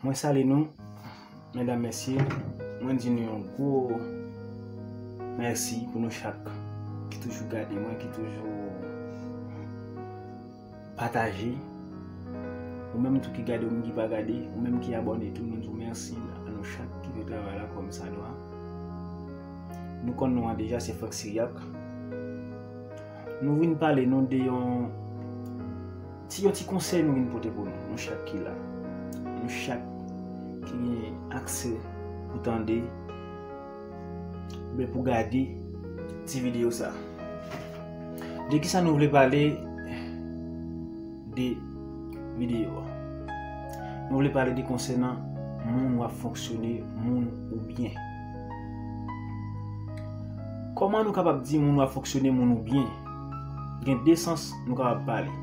Mwen sali nou, mèdam mèsye, mwen di nou yon gwo mèsi pou nou chak ki toujou gade mwen, ki toujou Pataje, ou menm tou ki gade ou menm ki pa gade, ou menm ki abòne tou nou di w mèsi a nou chak ki fè travay la kòmsadwa. Nou konn non an deja se Franck Syriaque. Nou vin pale nou de yon ti yon ti konsèy nou vin pote pou nou, nou chak ki la. Nou chak ki gen aksè pou tande. Oubyen pou gade ti video sa. De ki sa nou vle pale de video a? Nou vle pale de konsenan moun wap fonksyone, moun ou byen. Koman nou kapab di moun wap fonksyone, moun ou byen? Gen de sans nou kapab pale.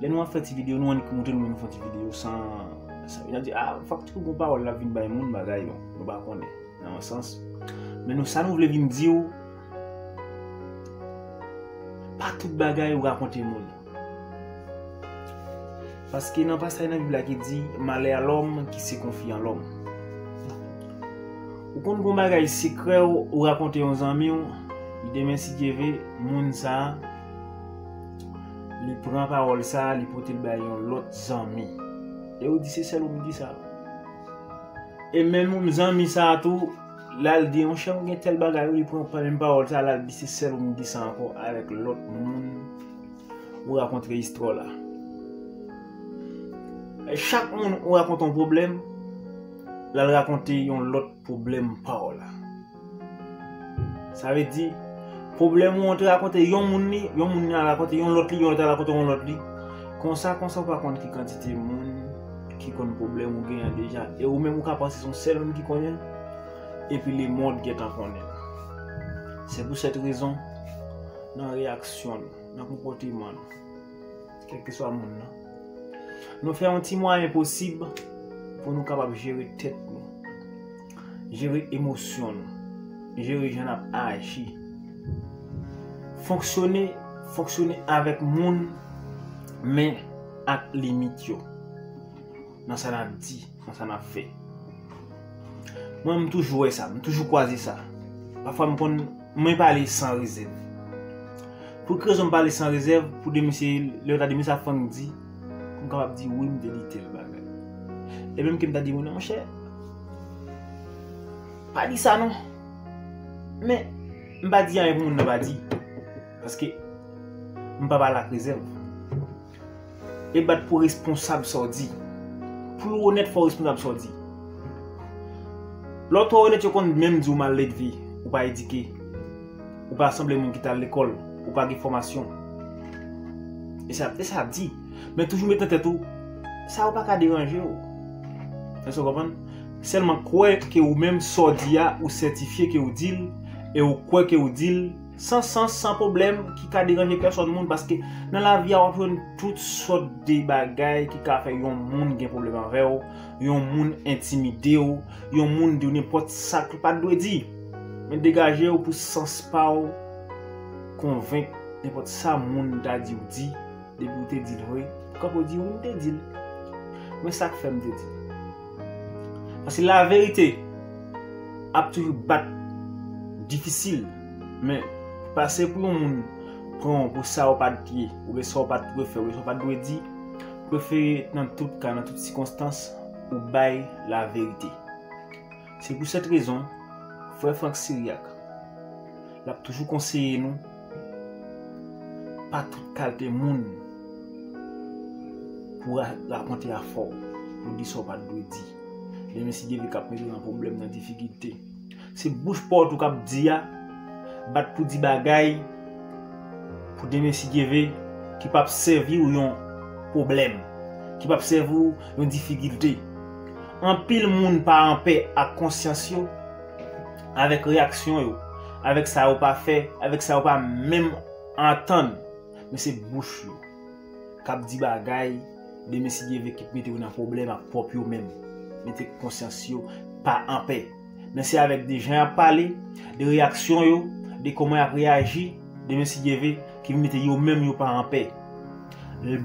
Lè nou ap fè ti video, nou annik moute nou menm fon ti video san... Sa vina di, a, fòk ti kou kou pa wòl la vin bay moun bagay yo. Nou pa konnen nan yon sans. Men nou sa nou vle vin di ou, pa tout bagay ou rakonte moun. Paske nan pasay nan bib la ki di, malè a lòm ki se konfye an lòm. Ou konn gon bagay sekrè ou rakonte yon zanmi ou, demen si Dye ve, moun sa a, li pran pawòl sa a, li pote l bay yon lòt zanmi. E ou di se sèl ou m di sa. E menm yon zanmi sa tou lal di yon chèm gen tèl bagay wi li pran menm pawòl sa lal di se sèl ou moun ki sa ankò avèk lòt moun ou rakontre istwa w la. Chak moun ou rakonte yon pwoblèm lal rakonte yon lòt pwoblèm pa w la. Sa vle di, pwoblèm ou an te rakonte yon moun li, yon moun li a rakonte yon lòt li, yon lòt a rakonte yon lòt li. Konsa konsa ou pa konn ki kantite moun ki konn pwoblèm ou genyen deja. E ou menm ou ka panse son sèl moun ki konnen, epi lemond gentan konnen. Se pou sèt rezon, nan reyaksyon nou, nan konpòteman nou, kèlkeswa moun nan, nou fè yon ti mwayen posib pou nou kapab jere tèt nou. Jere emosyon nou. Jere jan n ap aji. Fonksyone, fonksyone avèk moun men ak limit yo. Nan sa n ap di, nan sa n ap fè. Mwen m toujou wè sa, m toujou kwaze sa. Pafwa m konn, mwen pale san rezèv. Pou ki rezon m pale san rezèv? Pou de mesye, lè yo ta di mesye ap fann di. M kapab di wi m te li tel bagay. E menm ke m ta di wi nan monchè, pa di sa non. Men, m pa di anyen pou moun nan pa di. Paske, m pa pale ak rezèv. E bat pou responsab sa w di. Pou w onèt fò w responsab sa w di. Lè w twò onèt yo konn menm di w mal edve, ou pa edike. Ou pa sanble moun ki t al lekòl, ou pa gen fòmasyon. E sa e sa di. Men toujou met nan tèt ou sa yo pa ka deranje w. Èske w konprann? Sèlman kwè ke ou menm sa w di a ou sètifye ke ou di l e ou kwè ke ou di l san sans, san pwoblèm ki ka deranje pèsòn moun paske nan lavi a w ap jwenn tout sòt de bagay ki ka fè yon moun gen pwoblèm avè w, yon moun entimide w, yon moun di w nenpòt sa k pa dwe di. Men degajew pou sans paw konvenk nenpòt sa moun ta diw di depiw te dil vre ou kapo di wi mte dil men sak fè mte dil paske la verite ap toujou bat difisil men pase pou yon moun pranw pou sa ou pat ye oubyen sa ou pat dwe fè oubyen sa ou pat dwe di prefere nan tout ka nan tout sikonstans ou bay la verite. Se pou sèt rezon, frè Franck Syriaque l ap toujou konseye nou, pa tout kalte moun pou w rakonte afè w, pou w di sa w pa t dwe di. Lè men si Dyelve k ap mete w nan pwoblèm, nan difikilte. Se bouch pòt ou k ap di a, bat pou di bagay pou demen si Dyelve ki p ap sèvi w yon pwoblèm, ki p ap sèvi w yon difikilte. Anpil moun pa anpè ak konsyans yo, avèk reyaksyon yo, avèk sa yo pa fè, avèk sa yo pa menm antann. Men se bouch yo k ap di bagay, demen si Dyeve kit mete yo nan pwoblèm ak pwòp yo menm. Mete konsyans yo pa anpè. Men se avèk de jan y ap pale, de reyaksyon yo, de kòman y ap reyaji, de mensidyeve ki mete yo menm yo pa anpè.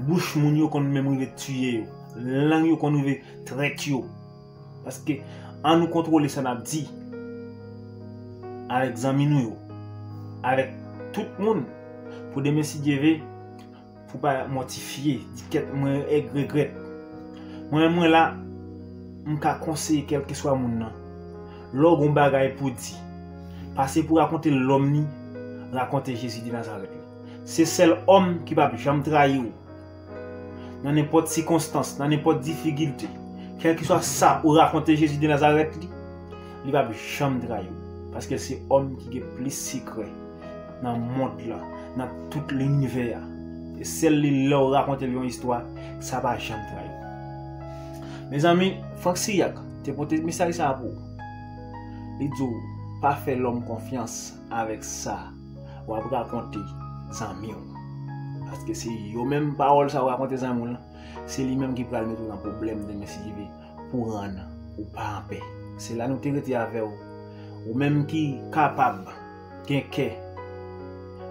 Bouch moun yo konn menm rive tiye yo. Lang yo konn rive trèt yo. Paske an nou kontwole sa n ap di avèk zanmi nou yo, avèk tout moun pou de mensidyeve. Pou pa mòtifye, di kèt mwen èg regrèt. Mwen menm mwen la, m ka konseye kèlkeswa moun nan. Lè w gen yon bagay pou w di, pase pou rakonte l lòm li, rakonte Jezi de Nazarèt la. Se sèl òm ki pa p janm trayi w nan nenpòt sikonstans, nan nenpòt difikilte. Kèlkeswa sa ou rakonte Jezi de Nazarèt li, li pa p janm trayi w, paske l se òm ki gen plis sekrè. nan mond lan, nan tout linivè a. E sèl li lè ou rakonte l yon istwa, sa pa janm trayi. Mezanmi, Frank Siriac te pote mesaj sa a pou ou. Li di ou, pa fè lòm konfyans avèk sa w ap rakonte zanmi w. Paske se yo menm pawòl sa ou rakonte zanmi w lan, se li menm ki pral mete ou nan pwoblèm demen si Dye vle pou rann ou pa anpè. Se la nou te rete avè ou. Ou menm ki kapab. Gen kè.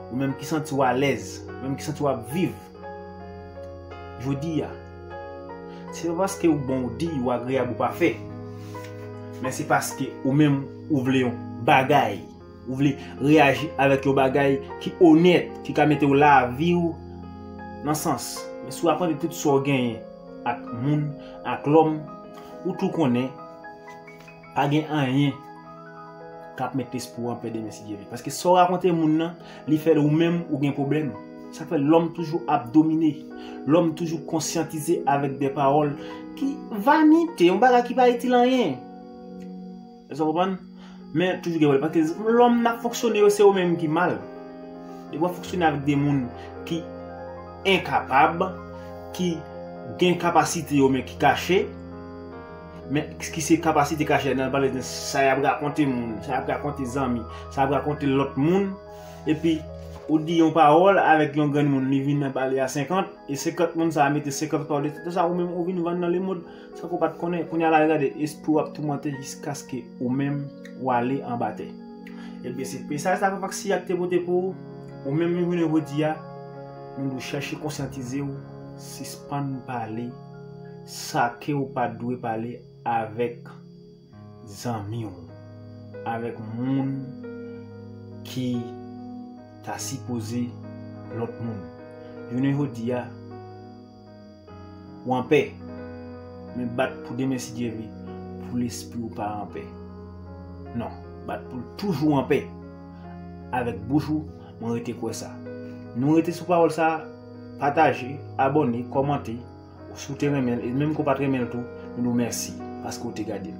Ou menm ki santi w alèz. Ou menm ki santi w ap viv. Jodi a. Se pa paske ou bon ou diy, ou agreyab ou pafè. Men se paske ou menm ou vle yon bagay. Ou vle reyaji avèk yon bagay ki onèt. Ki ka mete w lavi w nan sans. Men si w aprann tout sa w genyen ak moun, ak lòm. Ou tou konnen. Pa gen anyen kap met lespri w anpè demen si Dye vle. Paske sa w rakonte moun nan, li fè l ou menm ou gen pwoblèm. Sa k fè lòm toujou ap domine. Lòm toujou konsyantize avèk de pawòl ki vanite, yon bagay ki pa itil anyen. Èske w konprann? Men toujou gen pwoblèm. Paske lòm nan fonksyone yo se ou menm ki mal. Depi w ap fonksyone avèk de moun ki enkapab, ki gen kapasite yo men ki kache. Men, ki se kapasite kache la nan pale de sa y ap rakonte moun, sa y ap rakonte zanmi, sa y ap rakonte lòt moun. Epi, ou di yon pawòl avèk yon granmoun, li vin nan pale a senkant, e senkant moun sa a mete senkant pawòl epi konsa ou menm ou vin vann nan lemond san ke w pa t konnen. Kounye a la gade, espri w ap toumante jiskaske ou menm ou ale anba tè. Ebyen, se mesaj sa Papa Ksiyak te pote pou ou. Ou menm jounen jodi a, nou dwe chèche konsyantize w, sispann pale. Sakew pat dwe pale avèk zanmiw avèk moun ki ta sipoze lòt moun jounen jodia ou anpè men bat pou demen sidyevle pou lespriw pa anpè non bat poul toujou anpè avèk bouch ou mwen rete kwè sa nou rete sou pawòl sa. Pataje, abòne, kòmante si w te renmen l e menm ke w pat renmen l tou nou di w mèsi paske w te gade l.